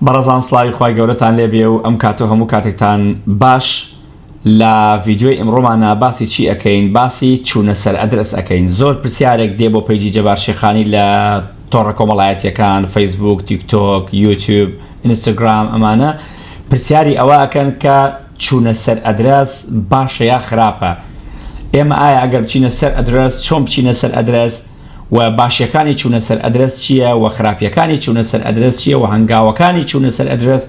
بەڕێزان سڵاوی خوای گەورەتان لێ بێ و ئەم کات و هەموو کاتێکتان باش لە ڤیدیۆی ئمڕۆمانا باسی چی ئەکەین باسی چوونە سەر ئەدرەس ئەکەین زۆر پرسیارێک دێ بۆ پەیجی جەبار شێخانی لە تۆڕە کۆمەڵایەتیەکان فەیسبووک تیکتۆک یوتیوب ئینستاگرام ئەمانە پرسیاری ئەوە ئەکەن کە چوونە سەر ئەدرەس باشە یا خراپە ئێمە ئایا ئەگەر بچینە سەر ئەدرەس چۆن بچینە سەر ئەدرەس و باشیەکانی چونە سەر ئەدرەس چیە و خراپیەکانی چونە سەر ئەدرەس چیە و هەنگاوەکانی چونە سەر ئەدرەس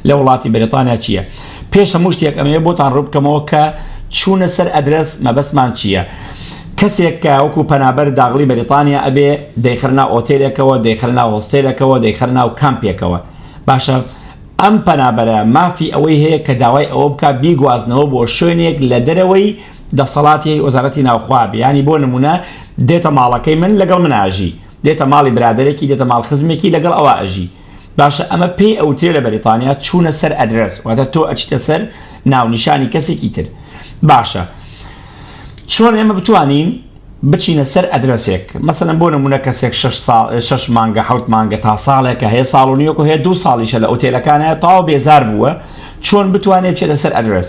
لە وڵاتی بەریتانیا چیە پێش هەموو شتێک ئەمەوێ بۆتان ڕوبکەمەوە کە چونە سەر ئەدرەس مەبەستمان چیە کەسێک کە وەکو پەنابەر داغڵی بەریتانیا ئەبێ دەیخرنا ئۆتێلێکەوە دەیخرنا هۆستێلەکەوە دەیخرنا و کامپێکەوە باشە ئەم پەنابەرە مافی ئەوەی هەیە کە داوای ئەوە بکە بیگوازنەوە بۆ شوێنێک لە دەرەوەی دەسەڵاتی وەزارەتی ناوخوا بێ یانی بۆ نمونە دێتە ماڵەکەی من لەگەڵ من ئاژی دێتە ماڵی برادەرێکی دێتە ماڵ خزمێکی لەگەڵ ئەوا ئەژی باشە ئەمە پێی ئەوترێ لە بەریتانیا چوونە سەر ئەدرس واتە تۆ ئەچیتە سەر ناونیشانی کەسێکی تر باشە چۆن ئێمە بتوانین بچینە سەر ئەدرسێک مەسەن بۆ نمونە کەسێک 6 سال 6 مانگە حوت مانگە تا ساڵێکە هەیە ساڵ و نیوەکو هەیە دو ساڵیشە لە ئوتێلەکانە تاو بێزار بووە چۆن بتوانێت چێتە سەر ئەدرس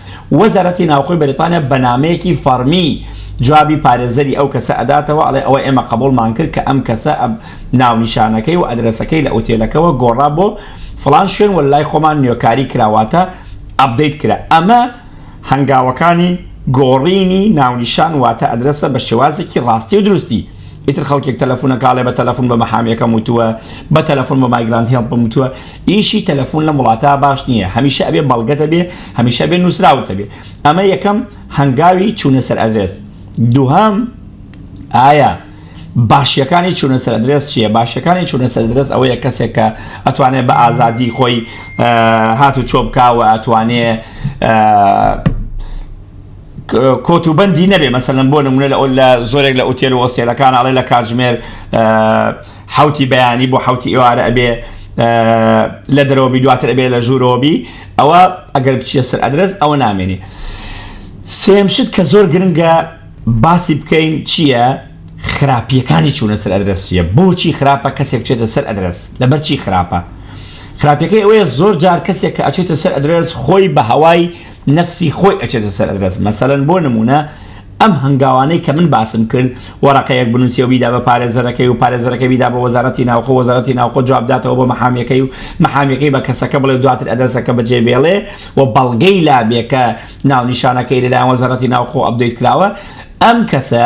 وەزارەتی ناوخۆی بەریتانیا بە نامەیەکی فەڕمی جوابی پارێزەری ئەو کەسە ئەداتەوە ئەڵێ ئەوە ئێمە قەبوڵمان کرد کە ئەم کەسە ناونیشانەکەی و ئەدرەسەکەی لە ئوتێلەکەوە گۆڕا بۆ فڵان شوێن وە لای خۆمان نوێکاری کرا واتە ئەپدەیت کرا ئەمە هەنگاوەکانی گۆڕینی ناونیشان واتە ئەدرەسە بە شێوازێکی ڕاستی و دروستی. ئیتر خەڵکێک تەلەفونە کاڵێ بە تەلەفون بە مەحامیەکەم وتووە بە تەلەفون بە مایگرانت هێڵ پم وتووە ئیشی تەلەفون لەم وڵاتە باش نییە هەمیشە ئەبێ بەڵگەتە بێ هەمیشە بێ نووسراوتە بێ ئەمە یەکەم هەنگاوی چوونە سەر ئەدرێس دووهام ئایا باشیەکانی چوونە سەر درێس چییە باشەکانی چوونە سەر درێس ئەوەیە کەسێک کە ئەتوانێت بە ئازادی خۆی هات و چۆ بکوە ئەتوانێ کۆت و بەندی نەبێ مەسەلەن بۆ نمونە لە لە زۆرێک لە ئوتێل و ئۆسێلەکان ئەڵێ لە کاتژمێر حوتی بەیانی بۆ حوتی ئێوارە ئەبێ لە دەرەوەبی دواتر ئەبێ لە ژوورەوەبی ئەوە ئەگەر بچیە سەر ئەدرس ئەوە نامێنێ سێم شت کە زۆر گرنگە باسی بکەین چییە خراپیەکانی چوونە سەر ئەدرسیە بۆچی خراپە کەسێک چێتە سەر ئەدرس لەبەر چی خراپە خراپەکەی ئەوەیە زۆر جار کەسێک کە ئەچێتە سەر ئەدرس خۆی بە هەوای نەفسی خۆی ئەچێتە سەر ئەدرەس مەسەلەن بۆ نمونە ئەم هەنگاوانەی کە من باسم کرد وەرەقەیەک بنوسی و بیدا بە پارێزەرەکەی و پارێزەرەکە بیدا بە وەزارەتی ناوخۆ و وەزارەتی ناوخۆ جواب بداتەوە بۆ مەحامیەکەی و مەحامیەکەی بە کەسەکە بڵێ و دواتر ئەدرەسەکە بەجێ بێڵێ و بەڵگەی لابێ کە ناونیشانەکەی لەلایەن وەزارەتی ناوخۆ ئەپدەیت کراوە ئەم کەسە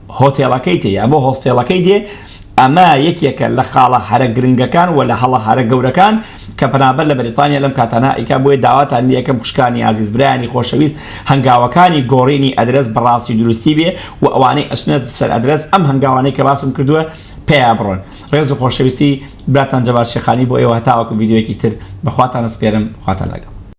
هۆتێڵەکەی تێ یا بۆ هۆستێڵەکەی دێ، ئەمە یەکێکە لە خاڵە هەرە گرنگەکان و لە هەڵە هەرە گەورەکان کە پەنابەر لە بەریتانیا لەم کاتانە ئەیکا، بۆیە داواتان لێ ئەکەم خوشکانی ئازیز، برایانی خۆشەویست هەنگاوەکانی گۆڕینی ئەدرەس بە ڕاستی و دروستی بێ و ئەوانەی ئەچنە سەر ئەدرەس ئەم هەنگاوانەی کە باسم کردووە پێیا بڕۆن. ڕێز و خۆشەویستی، براتان جەبار شێخانی بۆ ئێوە هەتاوەکو ڤیدیۆیەکی تر بە خواتان ئەسپێرم، خواتان لەگەڵ.